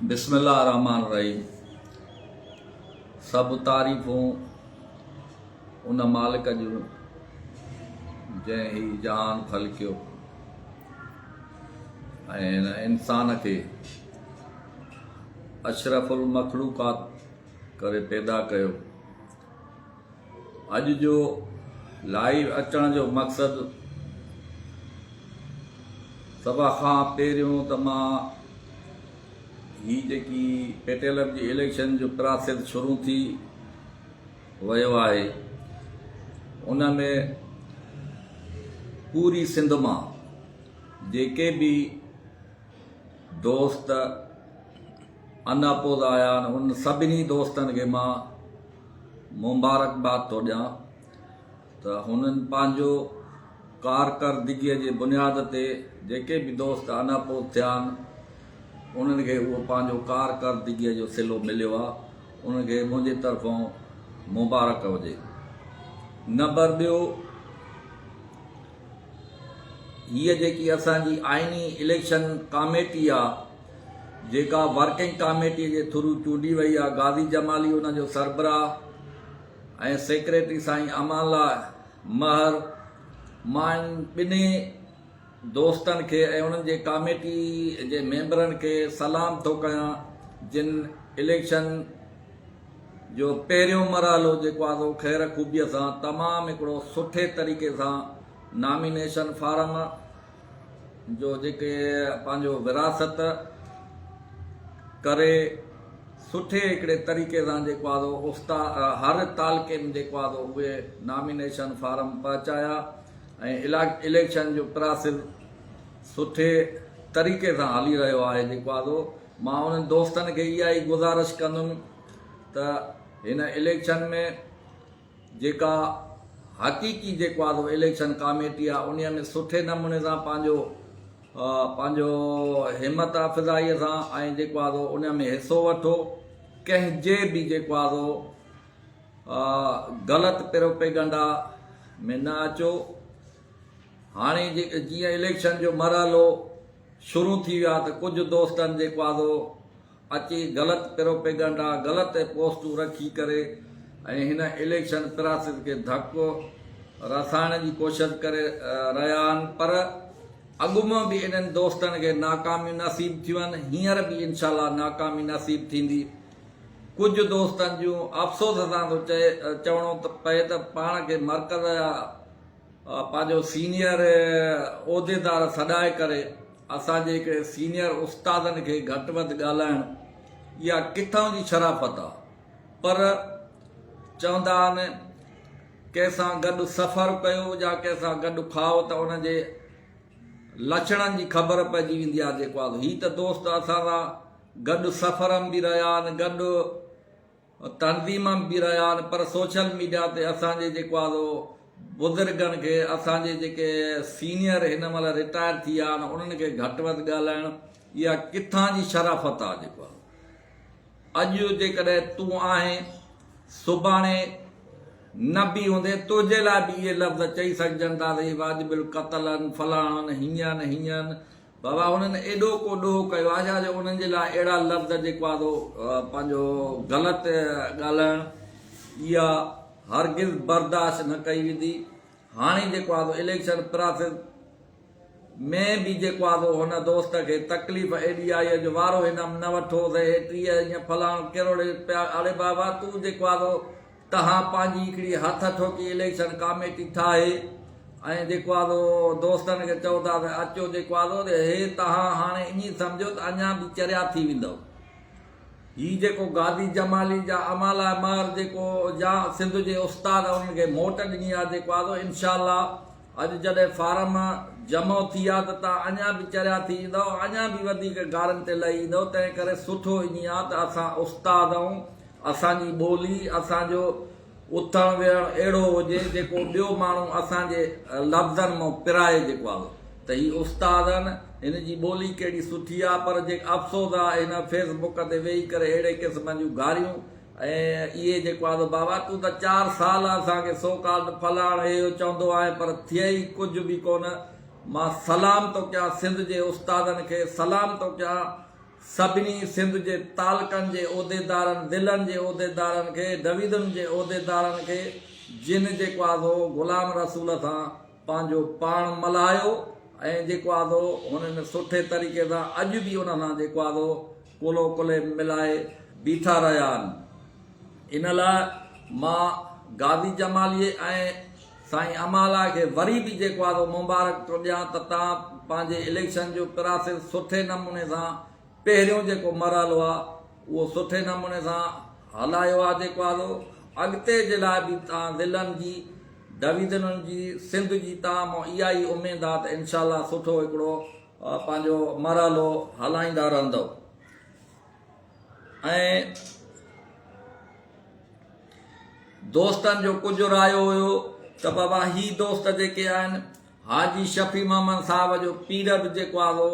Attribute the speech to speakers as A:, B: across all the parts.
A: بسم الله الرحمن الرحيم سڀ تعريفون ان مالڪ جون جنهن هي جهان خلقيو ۽ انسان کي اشرف المخلوقات ڪري پيدا ڪيو اڄ جو لائيو اچڻ جو مقصد سڀ کان پهريون ته مان هي جيڪي پيٽيلم جي اليڪشن جو پراسيس شروع ٿي ويو آهي ان ۾ پوري سنڌ مان جيڪي به دوست ان اپوز آيا آھن انھن سڀني دوستن کي مان مبارڪباد ٿو ڏيان ته ھنن پنھنجو ڪارڪردگي جي بنياد تي جيڪي به دوست ان اپوز ٿيا آھن انھن کي اھو پنھنجو ڪارڪردگي جو صلو مليو آھي انھن کي منھنجي طرفون مبارڪ ھجي نبر ٻيو ھيء جيڪي اسان جي آئيني اليڪشن ڪاميٽي آھي جيڪا ورڪنگ ڪاميٽي جي ٿرو چونڊي وئي آ، غازي جمالي ان جو سربراهه ۽ سيڪريٽري سائين امان الله مهر، مان انهن ٻنهي دوستن کي ۽ انهن جي ڪاميٽي جي ميمبرن کي سلام ٿو ڪيان جن اليڪشن جو پهريون مرحلو جيڪو آ سو خير خوبيء سان تمام هڪڙو سٺي طريقي سان نامينيشن فارم جو جيڪي پنهنجو وراثت ڪري سٺي هڪڙي طريقي سان جيڪو آهي سو استا هر تعلقي ۾ جيڪو آهي سو اهي نامينيشن فارم پهچايا ۽ اليڪشن جو پراسيس سٺي طريقي سان هلي رهيو آهي جيڪو آهي سو مان انهن دوستن کي اها ئي گذارش ڪندم ته هن اليڪشن ۾ جيڪا حقيقي جيڪو آ سو اليڪشن ڪاميٽي آ انهي ۾ سٺي نموني سان پنهنجو پنهنجو همت افزائي سان ۽ جيڪو آ سو انهي ۾ حصو وٺو ڪنهن جي به جيڪو آ سو غلط پروپيگنڊا ۾ نه اچو هاڻي جيئن اليڪشن جو مرحلو شروع ٿي ويو آ ته ڪجهه دوستن جيڪو آ سو اچي غلط پروپيگنڊا، غلط پوسٽون رکي ڪري ۽ هن اليڪشن پراسيس کي ڌڪو رسائڻ جي ڪوشش ڪري رهيا آهن پر اڳ مان به انهن دوستن کي ناڪاميون نصيب ٿيون آهن هينئر به انشاء الله ناڪامي نصيب ٿيندي ڪجهه دوستن جون افسوس سان ٿو چئي چوڻو پئي ته پاڻ کي مرڪز جا پنهنجو سينيئر عهديدار سڏائي ڪري اسان جي هڪڙي سينيئر استادن کي گهٽ وڌ ڳالهائڻ اها ڪٿان جي شرافت آ پر چوندا آهن ڪنهن سان گڏ سفر ڪيو يا ڪنهن سان گڏ کائو ته ان جي لڇڻن جي خبر پئجي ويندي آ جيڪو آ هي ته دوست اسان سان گڏ سفرم به رهيا آهن گڏ تنظيم به رهيا آهن پر سوشل ميڊيا تي اسان جي جيڪو آهي سو بزرگن کي اسان جي جيڪي سينئر هن مهل رٽائر ٿي ويا آهن انهن کي گهٽ وڌ ڳالهائڻ اها ڪٿان جي شرافت آهي جيڪو آهي اڄ جيڪڏهن تون آهين سڀاڻي نه به هوندي تنهنجي لاء به اهي لفظ چئي سگهجن ٿا ته هي واجب القتل آهن فلاڻا آهن هيئن آهن هيئن آهن بابا انهن ايڏو ڪو ڏوهه ڪيو آهي ڇا جو انهن جي لاء اهڙا لفظ جيڪو آهي سو پنهنجو غلط ڳالهائڻ اها هرگز برداشت نه ڪئي ويندي هاڻي جيڪو آهي سو اليڪشن پراسيس ۾ به جيڪو آهي سو هن دوست کي تڪليف ايڏي آئي آهي جو وارو هنم نه وٺوس هي ٽيهه ائين فلاڻو ڪروڙ اڙي بابا تون جيڪو آهي سو تهان پنهنجي هڪڙي هٿ ٺوڪي اليڪشن ڪاميٽي ٺاهي ۽ جيڪو آهي سو دوستن کي چئو ٿا ته اچو جيڪو آهي سو هي تهان هاڻي ائين سمجهو ته اڃا به چريا ٿي ويندؤ. هي جيڪو گادي جمالي جا امالا مهر جيڪو جا سنڌ جي استاد انهن کي موٽ ڏني آهي جيڪو آهي سو انشاء الله اڄ جڏهن فارم جمع ٿي آهي ته تهان اڃا به چريا ٿي ايندؤ اڃا به وڌيڪ گارن تي لهي ايندؤ تنهن ڪري سٺو ائين آهي ته اسان استاد ائون اسان جي ٻولي، اسان جو اٿڻ ويهڻ اهڙو هجي جيڪو ٻيو ماڻهو اسان جي لفظن مان پرائي جيڪو آ ته هي استادن هن جي ٻولي ڪهڙي سٺي آ پر جيڪو افسوس آ هن فيس بڪ تي ويهي ڪري اهڙي قسم جون گاريون ۽ اهي جيڪو آ ته بابا تون ته چار سال اسان کي سو ڪالڊ فلاڻ هي هو چوندو آهين پر ٿئي ئي ڪجهه به ڪونه مان سلام ٿو ڪيان سنڌ جي استادن کي سلام ٿو ڪيان سڀني سنڌ جي تعلقن جي عهديدارن، ضلعن جي عهديدارن کي، ڊويزن جي عهديدارن کي جن جيڪو آسو غلام رسول سان پنهنجو پاڻ ملهايو ۽ جيڪو آسو هنن سٺي طريقي سان اڄ به ان سان جيڪو آسو ڪلهو ڪلهي ملائي بيٺا رهيا آهن ان لاء مان غازي جمالي ۽ سائين امالا کي وري به جيڪو آهي سو مبارڪ ٿو ڏيان ته تان پنهنجي اليڪشن جو پراسيس سٺي نموني سان پهريون جيڪو مرحلو آهي اهو سٺي نموني سان هلايو آهي جيڪو آهي سو اڳتي جي لاء به تان ضلعن جي ڊويزنن جي سنڌ جي تان مان اها ئي اميد آهي ته انشاء الله سٺو هڪڙو پنهنجو مرحلو هلائيندا رهندؤ. ۽ دوستن جو ڪجهه رايو هيو ته بابا هي دوست جيڪي آهن حاجي شفيع محمد صاحب جو پيرڊ جيڪو آهي سو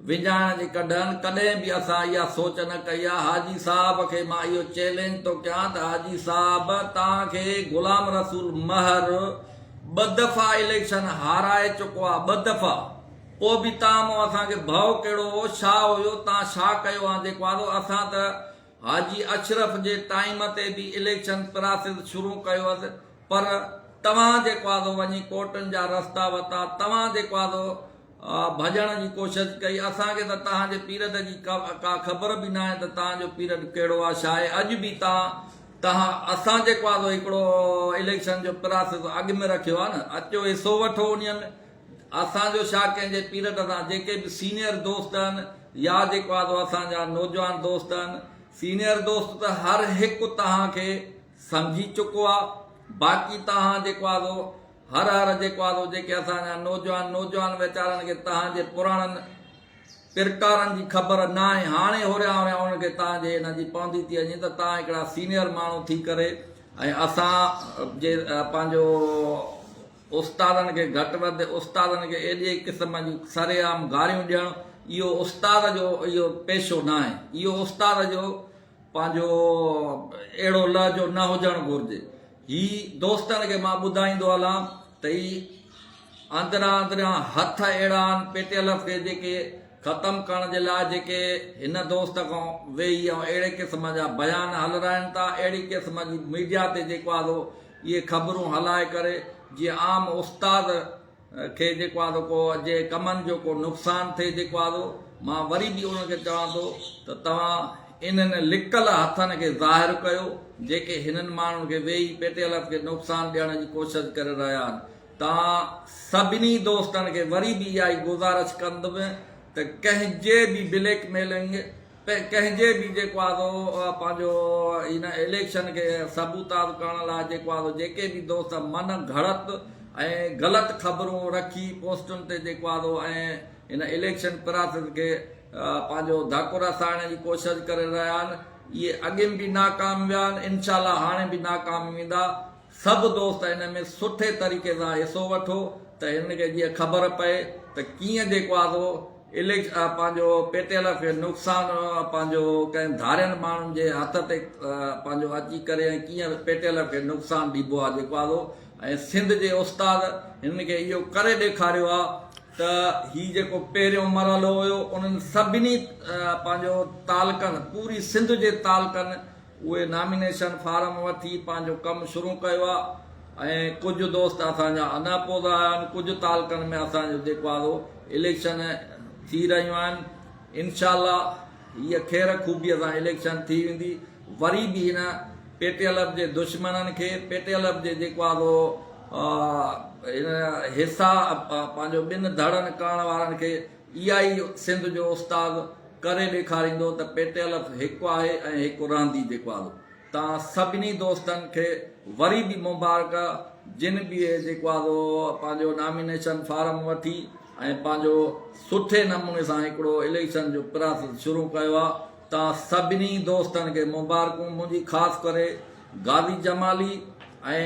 A: وڃائڻ جي ڪڍن ڪڏهن به اسان اها سوچ نه ڪئي آهي حاجي صاحب کي مان اهو چئلينج ٿو ڪيان ته حاجي صاحب توهان کي غلام رسول مهر ٻه دفعا اليڪشن هارائي چڪو آهي ٻه دفعا پوء به تان مون اسان کي ڀؤ ڪهڙو هو، ڇا هيو، تان ڇا ڪيو آن جيڪو آندو، اسان ته حاجي اشرف جي ٽائيم تي به اليڪشن پراسيس شروع ڪيو هئس پر توهان جيڪو آندو وڃي ڪورٽن جا رستا وتا، توهان جيڪو آندو ڀڄڻ جي ڪوشش ڪئي، اسان کي ته تان جي پيرڊ جي ڪا خبر به ناهي ته تان جو پيرڊ ڪهڙو آ ڇا آهي، اڄ به تان تان اسان جيڪو آندو هڪڙو اليڪشن جو پراسيس اڳ ۾ رکيو آ نه، اچو حصو وٺو انهي ۾، اسان جو ڇا ڪنهن جي پيرٽ سان جيڪي به سينئر دوست آهن يا جيڪو آهي سو اسان جا نوجوان دوست آهن سينئر دوست ته هر هڪ توهان کي سمجهي چڪو آهي باقي توهان جيڪو آهي سو هر هر جيڪو آهي سو جيڪي اسان جا نوجوان نوجوان ويچارن کي توهان جي پراڻن پرڪارن جي خبر ناهي هاڻي هوريان هوريان انهن کي توهان جي ان جي پوندي ٿي وڃي ته توهان هڪڙا سينئر ماڻهو ٿي ڪري ۽ اسان جي پنهنجو استادن کي گهٽ وڌ، استادن کي ايڏي قسم جون سرعام گاريون ڏيڻ اهو استاد جو اهو پيشو ناهي، اهو استاد جو پنهنجو اهڙو لهجو نه هجڻ گهرجي. هي دوستن کي مان ٻڌائيندو هلان ته هي اندران اندران هٿ اهڙا آهن پي ٽي ايل ايف کي جيڪي ختم ڪرڻ جي لاء جيڪي هن دوست کان ويهي ۽ اهڙي قسم جا بيان هلرائين ٿا، اهڙي قسم جي ميڊيا تي جيڪو آهي سو اهي خبرون هلائي ڪري جيئن عام استاد کي جيڪو آهي سو ڪو جي ڪمن جو ڪو نقصان ٿئي جيڪو آهي سو مان وري به انهن کي چوان ٿو ته توهان انهن لڪل هٿن کي ظاهر ڪيو جيڪي هنن ماڻهن کي ويهي پيٽيلس کي نقصان ڏيڻ جي ڪوشش ڪري رهيا آهن توهان سڀني دوستن کي وري به اها ئي گذارش ڪندم ته ڪنهن جي به بليڪ ميلنگ ڪنهن جي به جيڪو آهي سو پنهنجو ان اليڪشن کي سبوتاز ڪرڻ لاء جيڪو آهي سو جيڪي به دوست من گهڙت ۽ غلط خبرون رکي پوسٽن تي جيڪو آهي سو ۽ ان اليڪشن پراسس کي پنهنجو ڌڪ رسائڻ جي ڪوشش ڪري رهيا آهن اهي اڳين به ناڪام ويا آهن انشاء الله هاڻي به ناڪام ويندا سڀ دوست ان ۾ سٺي طريقي سان حصو وٺو ته هنن کي جيئن خبر پئي ته ڪيئن جيڪو آ سو اليڪشن پنهنجو پي ٽي ايل کي نقصان پنهنجو ڪنهن ڌارين ماڻهن جي هٿ تي پنهنجو اچي ڪري ۽ ڪيئن پي ٽي ايل کي نقصان ڏبو آ جيڪو آ سو ۽ سنڌ جي استاد هنن کي اهو ڪري ڏيکاريو آ ته هي جيڪو پهريون مرحلو هيو انهن سڀني پنهنجو تعلقن پوري سنڌ جي تعلقن اهي نامينيشن فارم وٺي پنهنجو ڪم شروع ڪيو آهي ۽ ڪجهه دوست اسان جا ادا پودا آيا آهن ڪجهه تعلقن ۾ اسان جو جيڪو آهي سو اليڪشن ٿي رهيون آهن انشاء الله هيء خير خوبيء سان اليڪشن ٿي ويندي وري به هن پي ٽي ايل ايف جي دشمنن کي پي ٽي ايل ايف جي جيڪو آهي سو هن حصا پنهنجو ٻن ڌڙن ڪرڻ وارن کي اها ئي سنڌ جو استاد ڪري ڏيکاريندو ته پيٽي الف هڪ آهي ۽ هڪ رهندي جيڪوال تان سڀني دوستن کي وري به مبارڪ جن به جيڪوال پنهنجو نامينيشن فارم وٺي ۽ پنهنجو سٺي نموني سان هڪڙو اليڪشن جو پراسس شروع ڪيو آ تان سڀني دوستن کي مبارڪون منهنجي خاص ڪري غازي جمالي ۽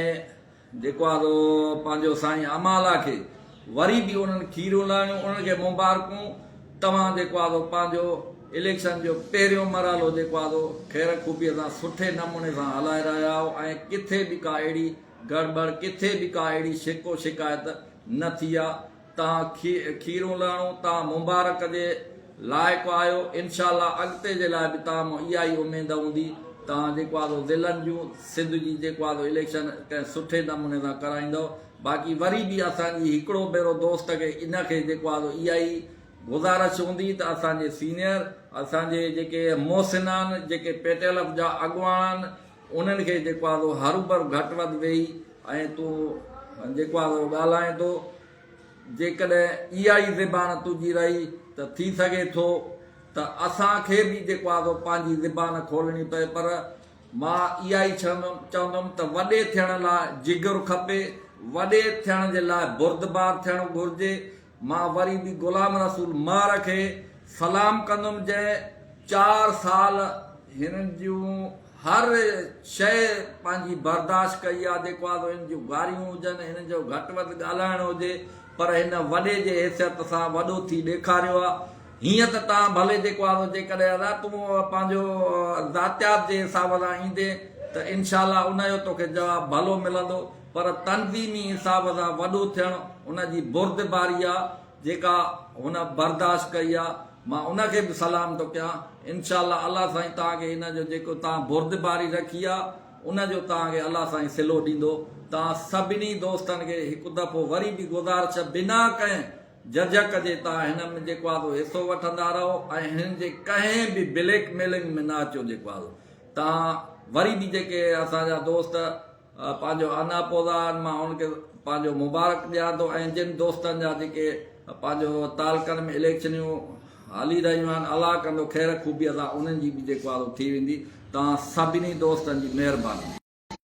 A: جيڪو آ سو پنهنجو سائين امالا کي وري به انهن کيريون لاهڻيون انهن کي مبارڪون توهان جيڪو آ سو پنهنجو اليڪشن جو پهريون مرحلو جيڪو آ سو خير خوبي سان سٺي نموني سان هلائي رهيا آهيو ۽ ڪٿي به ڪا اهڙي گڙبڙ ڪٿي به ڪا اهڙي شڪو شڪايت نه ٿي آ تان کيرون لهڻو تان مبارڪ جي لائق آهيو انشاء الله اڳتي جي لاء به تان مان اها ئي اميد هوندي تان جيڪو آهي سو ضلعن جون سنڌ جي جيڪو آهي سو اليڪشن ڪنهن سٺي نموني سان ڪرائيندؤ باقي وري به اسان جي هڪڙو ڀيرو دوست کي ان کي جيڪو آهي سو اها ئي گذارش هوندي ته اسان جي سينيئر اسان جي جيڪي محسنان جيڪي پيٽيل اپ جا اڳواڻان انهن کي جيڪو آهي سو هروڀرو گهٽ وڌ ويهي ۽ تون جيڪو آهي سو ڳالهائين ٿو. جيڪڏهن اها ئي زبان تنهنجي رهي ته ٿي سگهي ٿو ته اسان کي به جيڪو آهي سو پنهنجي زبان کولڻي پئي پر مان اها ئي چوندم ته وڏي ٿيڻ لاء جگر کپي، وڏي ٿيڻ جي لاء بردبار ٿيڻ گهرجي، مان وري به غلام رسول مار کي سلام ڪندم جنهن چار سال هن جون هر شيء پنهنجي برداشت ڪئي آ جيڪو آ سو هن جون گاريون هجن هن جو گهٽ وڌ ڳالهائڻ هجي پر هن وڏي جي حيثيت سان وڏو ٿي ڏيکاريو آ هيئن ته تان ڀلي جيڪو آ سو جيڪڏهن ادا تون پنهنجو ذاتيات جي حساب سان ايندين ته انشاء الله ان جو توکي جواب ڀلو ملندو پر تنظيمي حساب سان وڏو ٿيڻ ان جي بردباري آ جيڪا هن برداشت ڪئي آ مان ان کي به سلام ٿو ڪيان انشاء الله الله سائين توهان کي ان جو جيڪو توهان بردباري رکي آ ان جو توهان کي الله سائين صلو ڏيندو توهان سڀني دوستن کي هڪ دفعو وري به گذارش آ بنا ڪنهن جھجھڪ جي توهان هن ۾ جيڪو آ سو حصو وٺندا رهو ۽ هن جي ڪنهن به بليڪ ميلنگ ۾ نه اچو جيڪو آ سو توهان وري به جيڪي اسان جا دوست پنهنجو انا پودا آهن مان انهن کي پنهنجو مبارڪ ڏيان ٿو ۽ جن دوستن جا جيڪي پنهنجو تعلقن ۾ اليڪشنيون هلي رهيون آهن الله ڪندو خير خوبيء سان انهن جي به جيڪو آهي سو ٿي ويندي توهان سڀني دوستن جي مهرباني.